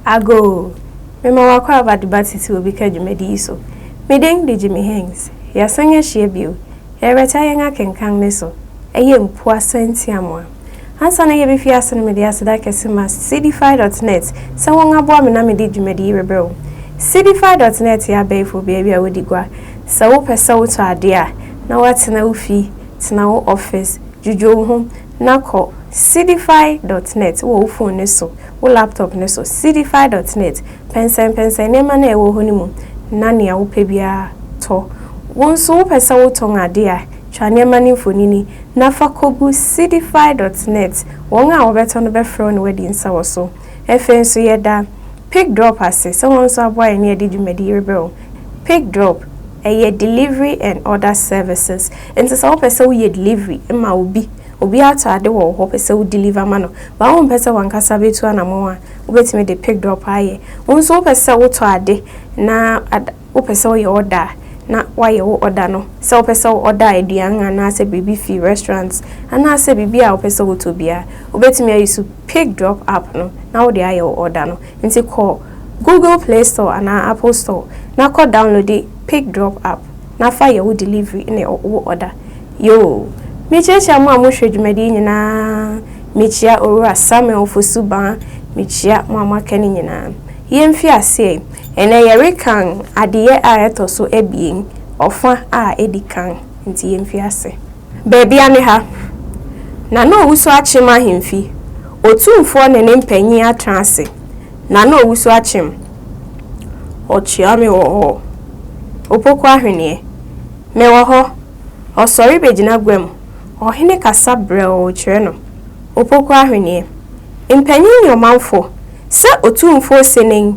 Agoo! Mema w'akwaaba de ba titiriw bi ka dwumadi yi so. Me din de Jimmy Hings. Yɛasan ahyia bio. Yɛrebɛtaa yɛn akenkan no so. Ɛyɛ Mpuwa Sɛntiamoa. Ansa na yebefi ase no mede aseda kɛse ma Seedify dot net sɛ wɔaboa me na mede dwumadi yi rebrɛ wo. Seedify dot net yɛ abɛɛfo beabi a wodi gua. Sɛ wopɛ sɛ wotɔ ade a, na woatena wo fi, tena wo office, Dwudwo wo ho na kɔ Seedify dot net wɔ wo fon no so, wo laptop no so, Seedify dot net. Pɛnsɛnpɛnsɛn nneɛma no a ɛwɔ hɔ no mu na nea wopɛ biara tɔ. Wo nso wopɛ sɛ wotɔn ade a, twa nneɛma no mfonini na fa kogu Seedify dot net. Wɔn a wɔbɛtɔ no bɛfrɛ wo na wɔadi nsa wɔ so. Afei nso yɛda PigDrop ase sɛ wɔn nso aboa yɛn ne yɛde dwumadi yi rebrɛ wo. Pick drop, ɛyɛ delivery and other services. Nti sɛ wopɛ sɛ woyɛ delivery ma obi, obi atɔ ade wɔ wo hɔ, wopɛ sɛ wo deliver ma no, but wompɛ sɛ w'ankasa bɛtu anamɔn a, wobɛtumi de pick drop ayɛ. Wo nso wopɛ sɛ wotɔ ade na ad, wopɛ sɛ woyɛ order a, na woayɛ wo order no. Sɛ wopɛ sɛ wo order aduan anaasɛ biribi fi restaurant anaasɛ biribi a wopɛ sɛ wotɔ biara, wobɛtumi ayusu pick drop app no na wode ayɛ wo order no. Nti kɔ Google Play Store anaa Apple Store na kɔ downloadi Pick Drop App na fa yɛ wo delivery ne wo order. Yoo! Mekyia-kyia mo a mo hwɛ dwumadi yi nyinaa, mekyia Owura Samuel Ofosu-Baa, mekyia mo a mo aka no nyinaa. Yɛn fi aseɛ, ɛnɛ yɛ rekan adeyɛ a ɛtɔ so abien, ɔfa a edi kan, nti yɛn fi ase. Baabi a ne ha, na na owusu akyem ahemfi, otumfoɔ ne ne mpanyin atena ase, na na owusu akyem. Ɔkyea me wɔ hɔ, opoku ahweneɛ. Mewɔ hɔ, ɔsɔre begyina gua mu, ɔhene kasa brɛoo kyerɛ no, opoku ahweneɛ. Mpanyin ne ɔmanfo Sɛ Otumfoɔ se nen,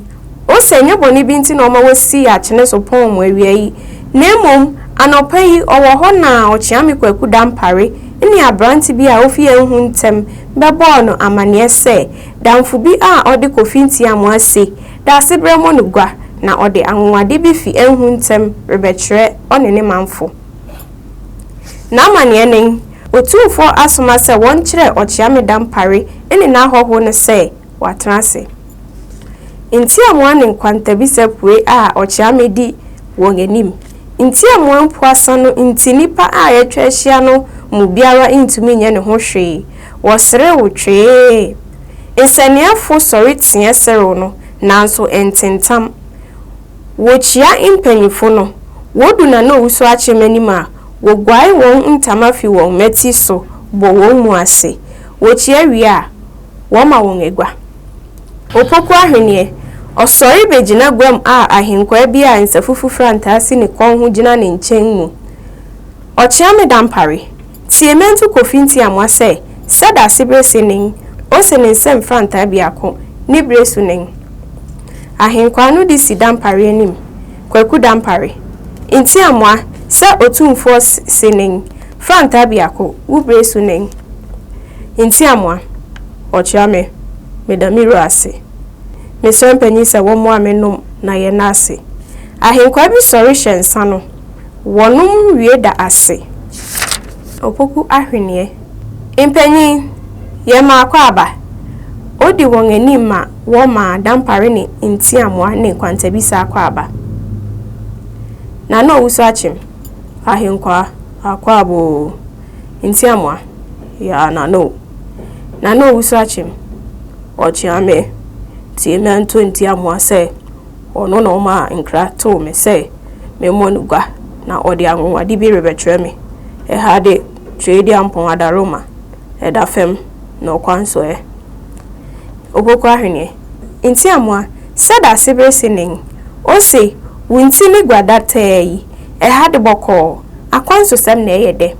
O sɛ ɛnyɛ bɔne bi nti na ɔma wosii akyene so pɔn mo awia yi, na mmom anɔpa yi ɔwɔ hɔ na ɔkyeame kwaku Dampare ne aberante bi a ofi yɛn ho ntɛm bɛbɔɔ no amanneɛ sɛ damfo bi a ɔde Kofi Ntiamoa se Daasebrɛ mɔ no gua na ɔde anwonwade bi fi ɛnho ntɛm rebɛkyerɛ ɔne ne manfo. N'amanneɛ nen, Otumfoɔ asoma sɛ wɔnkyerɛ Ɔkyea Meda Mpare ne n'ahɔho no sɛ wɔatena ase. Ntiamoa ne nkwantabisa pue a Ɔkyea Medi wɔn anim. Ntiamoa mpoasa no nti nnipa a atwa ahyia no mu biara ntumi nyɛ ne ho hwee, wɔserew twee. Nsɛnneɛfo sɔre teɛ serew no, nanso ɛntentam. Wokyia mpanyimfo no, wodu Nana Owusu Akyem anim a, woguare wɔn ntama fi wɔn mmati so bɔ wɔn mu ase. Wokyia wie a, wɔma wɔn agua. Opoku Ahweneɛ, Ɔsɔre bɛgyina guam a ahenkwaa bi a nsafufu frantaa si ne kɔn ho gyina ne nkyɛn mu. Ɔkyeame Dampare, Tie Mento Kofi Ntiamoa sɛ sɛ da se bere se nen o se ne nsam frantaa biako ne bere so nen. Ahenkwaa no de si Dampare anim, Kwaku Dampare, Ntiamoa sɛ Otumfoɔ se nen frantaa biako wo bere so nen. Ntiamoa, Ɔkyeame, meda me wura ase. Mesrɛ mpanyin sɛ wɔmmoa me nom na yɛnna ase. Ahenkwaa bi sɔre hyɛ nsa no. Wɔnom wie da ase. Opoku ahweneɛ. Mpanyin, yɛ mmaako aba. Odi wɔn anim ma wɔma dampare ne ntiamoa ne kwantabisa akwaaba. Na na ɔwusu akyem. Ahenkwaa, akwaaba oo. Ntiamoa, yaa na no. Na na ɔwusu akyem. Ɔkyeame, tie me anto ntiamoa sɛ. Ɔno na ɔmaa nkra too me sɛ memmɔ no gua, na ɔde anwonwade bi rebɛkyerɛ me. Ɛha de, Tweaduampɔn adaworoma da fam na ɔkwan so ɛ. Opoku ahweneɛ. Nti amoa, sɛ dase bere se nen, o se wo nti ne gua da tɛɛ yi, ɛha de bɔkɔɔ, akwan so sɛm na ɛyɛ dɛ.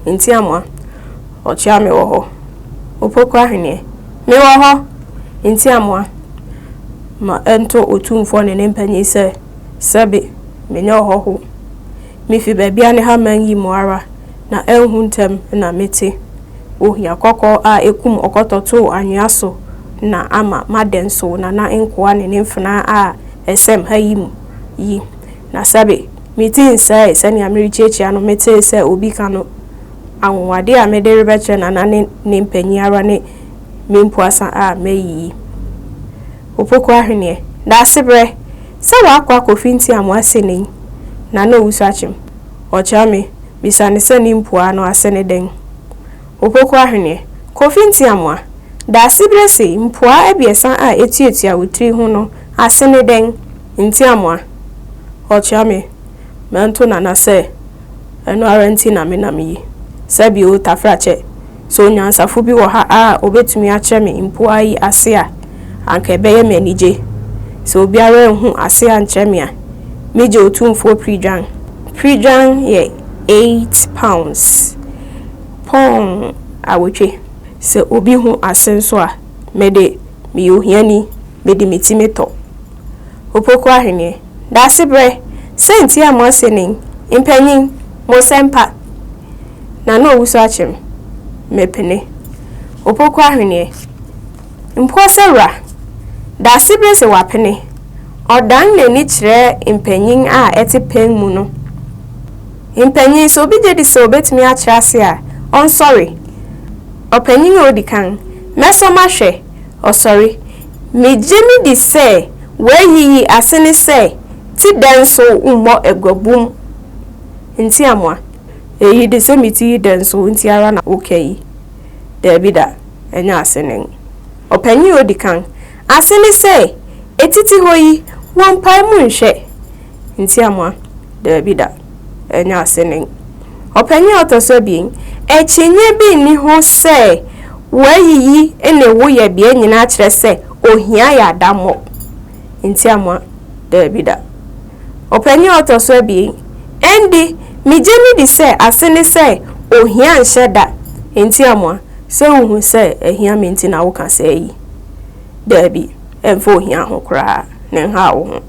Nti amoa, ɔkyea me wɔ hɔ. Opoku ahweneɛ. Me wɔ hɔ. Nti amoa. Ma ɛnto Otumfoɔ ne ne mpanyin sɛ, Sɛbe, menyɛ ɔhɔho. Mifi baabi a ne haman yi mu ara, na anhu ntɛm na mete. Ohia kɔkɔɔ a ekum ɔkɔtɔ too anwea so na ama madɛn so nana nkoa ne ne mfenaa a ɛsɛm ha yi mu yi. Na sɛbe, me ti nsɛee sɛnea merekyiakyia no metee sɛ obi ka no. Anwonwade a mede rebɛkyerɛ nana ne ne mpanyin ara ne me mpuasa a mayiyi. Opoku Ahweneɛ, Daasebrɛ sɛ w'akoa Kofi Ntiamoa asene yi na na ɔwusu akyem. Ɔkyea me bisa no sɛ ne mpuaa no ase ne dɛn. Opoku Ahweneɛ, Kofi Ntiamoa, Daasebrɛ sei mpuaa abiɛsa a ɛtuatua wo tiri ho no ase ne dɛn? Ntiamoa, Ɔkyea me. Mɛnto Nana sɛ ɛno ara nti na menam yi. Sɛbi o, Tafrakyɛ, sɛ onyansafo bi wɔ ha a obetumi akyerɛ me mpoa yi ase a, anka ɛbɛyɛ me anigye. Sɛ obiara anhu ase ankyerɛ me a, migye Otumfoɔ Pridwan. Pridwan yɛ eight pounds, pɔn awotwe. Sɛ obi hu ase nso a, me de, meyɛ ohiani, mede me ti metɔ. Opoku Ahweneɛ. Daasebrɛ, Saints yɛ mo asenin, mpanyin, mo sɛmpa, na na ɔwusu akyem, mepene, Opoku ahweneɛ, mpoɔ sɛ wura, Daasebrɛ se wapene, ɔdan n'ani kyerɛ mpanyin a ɛte pɛn mu no, mpanyin, sɛ obi gyedi sɛ ɔbɛtumi akyerɛ ase a, ɔnsɔre, ɔpanyin a ɔdi kan, mɛsɔ mahwɛ, ɔsɔre. Migye midi sɛ w'ayi yi ase ne sɛ ti dɛn so mmɔ aguabum nti amoa. Eyi de sɛ me ti yi dɛn so nti ara na woka yi? Daabi da, ɛnyɛ ase ne ngo. Ɔpanyin a odi kan, ase ne sɛ etiti hɔ yi wɔ mpae mu nhwɛ nti amoa. Daabi da. Ɛno ase nen. Ɔpanyin a ɔtɔ so abien, Akyinnye bi nni ho sɛ w'ayiyi ne wo yɛbea nyinaa kyerɛ sɛ ohia yɛ adammɔ. Ntiamoa, Dabi da. Ɔpanyin a ɔtɔ so abien, Ɛnde, migye midi sɛ ase ne sɛ ohia nhyɛ da. Ntiamoa, Sɛ wuhu sɛ ahia me nti na woka saa yi? Dabi, ɛmfa ohia ho koraa na ɛnhaw wo ho.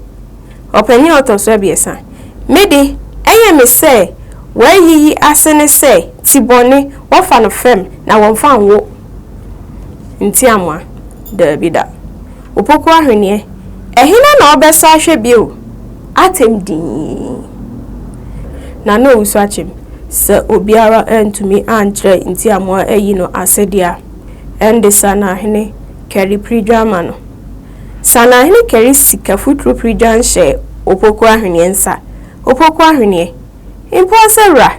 Ɔpanyin a ɔtɔ so abiɛsa. Me de, ɛyɛ me sɛ wɔayiyi ase ne sɛ ti bɔne, wɔfa no fam na wɔmfa nwo ntiamoa. Daabi da. Opoku ahweneɛ, ɛhena na ɔbɛsɔ ahwɛ bio? Atɛm dinn. Na na owu so akyem. Sɛ obiara antumi ankyerɛ ntiamoa ayi no ase de a, ɛnde Sanahene Kari Pridwama no Saanahene kari sika futuro piri dwan hyɛɛ Opoku Ahweneɛ nsa. Opoku Ahweneɛ, mpo ɔsɛ wura,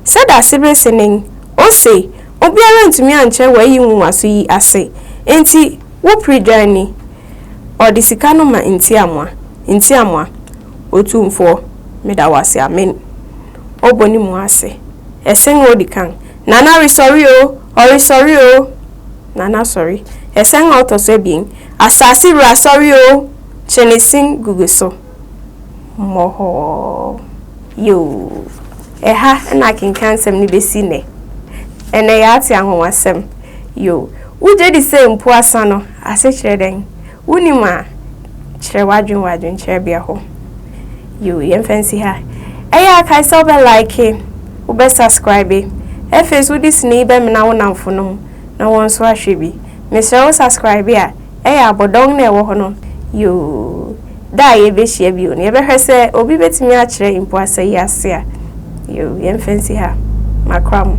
sɛ dase bere sennen, ose, obiara antumi ankyerɛ w'ayi nwonwaso yi ase, enti wo piri dwan ni. Ɔde sika no ma Ntiamoa. Ntiamoa, Otumfoɔ, meda wo ase, amen. Ɔbɔ ne mu ase. Ɛsen odi kan, Nana resɔre o! Ɔresɔre o! Nana sɔre. Ɛsɛn a ɔtɔ so abien. Asase wura sɔre o! Kyenesin gugu so. Mmɔhɔɔ. Yoo. Ɛha na akenkansɛm no bɛsi nnɛ. Ɛnnɛ yɛate anwonwasɛm. Yoo. Wogye di sɛ mpuasa no ase kyerɛ dɛn? Wonim a, kyerɛ w'adwene wɔ adwenkyerɛbea hɔ. Yoo, yɛmfa nsi ha. Ɛyɛ a kae sɛ wobɛ like, wobɛ subscribe. Afei nso wode sini yi bɛmena wo nnamfonom. na wɔn nso ahwɛ bi mesrɛ wo subscribe a ɛyɛ abɔdɔn na ɛwɔ hɔ no yoo da a yɛbɛhyia bio no yɛbɛhwɛ sɛ obi bɛtumi akyerɛ mpo asa yi ase a yoo yɛmfa nsi ha makora mo